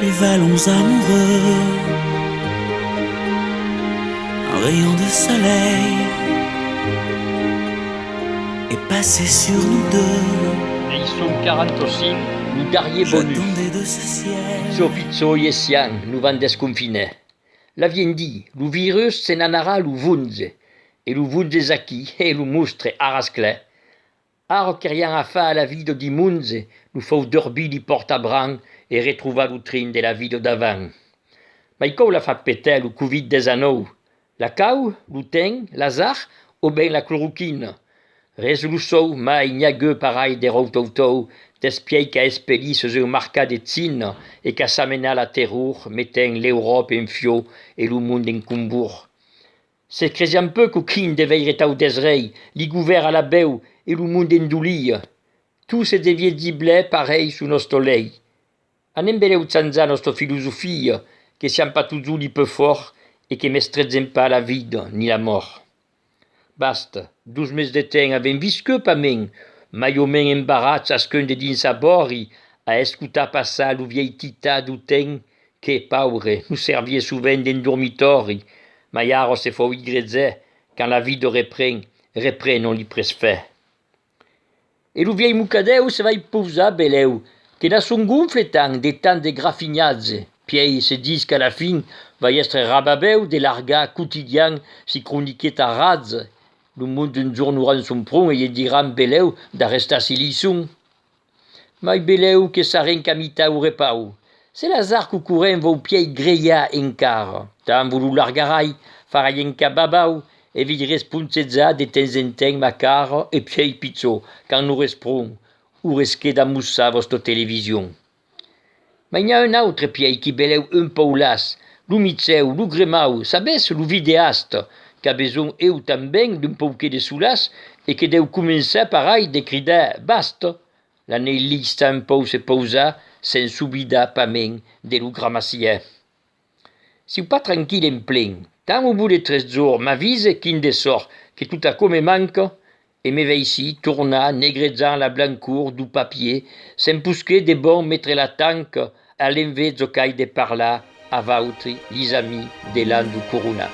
Les vallons amoureux Un rayon de soleil Est passé sur nous deux Ei son 45, lo darrier bonus. J'attendais de ce ciel. Pitjor pitjor ies sian, lo van desconfiner. L'avien di, lo virus se n'anarà lo 'vunze. E lo 'vunze es aquí, he lo mostre, aras clè. Arrò qu'erián a far a la Vido di Munze, lo fòu dorbí di Pòrtabran e retrovar lo trin de la Vido davant. Mai còu la fa petar lo covid 19? La cau? Lo ten? L'azar? O ben la cloroquina? Res lo sou, mai n'i a geu parai de ròutoutou despiai qu'a espelí sus un marcà de China e qu'a samenat la terror metent l'Euròpa en fiò e lo mond en combur. Se cresián peu qu'o crin de veire tau desrei, li govèr a la bèu e lo monde endolia. Tout se devié dir blè parèi su nosto lei. Anem beleu tsanzar nosto filosofia, que siam pas tots uli peu fòrt e que mestrètzen pas la vida ni la mòrt. Basta, dos mes de temps avem visqueu pas men, mai o men embarrats asqueun de dins sa bòri a escotar passar lo vièi tità d'o temps Que, paure, nos servie sovent d'un dormitòri, mai ara se fòu igrezè quand la vida repren, repren ont li presfè. E lo vièlh mocadèu se vai pausar belèu, que n'a son gonfle tant de tant de grafinhatge, pièi se dis qu'a la fin vai èstre rababèu de largar quotidian si croniqueta ratz, lo monde un jorn auran son pron e ie diran belèu d'arrestar si li son. Mai belèu que sarren qu'a mitar o repau. Se l'azar qu'o corrent vòu pièi grelhar encara, tan vo lo largarai, farai enca babau, e v'ei responsetzar de temps en temps ma cara e pièi pichó, quand no resprong, o resqueda mossar vòsta television. Mai n'i a un autre pièi qui belèu un pòu las, lo micèu, lo gremau, sabes, lo videast, qu'a besonh eu tanben d'un pauquet de solas e que dèu començar par ai de cridar bast! La n'ei lhissa un pòu se pausar, se'n s'obida pas men de lo gramassièr. Siu pas tranquil en plen. Quand au bout de tres jorns m'avise quin de sort que tot aquò me manca e me veissi tornar negrejant la blancor dau papier se'n posqué de bon metre la tanca a l'envés zocai de parlar a vautri, lhis amis de l'an dau corona.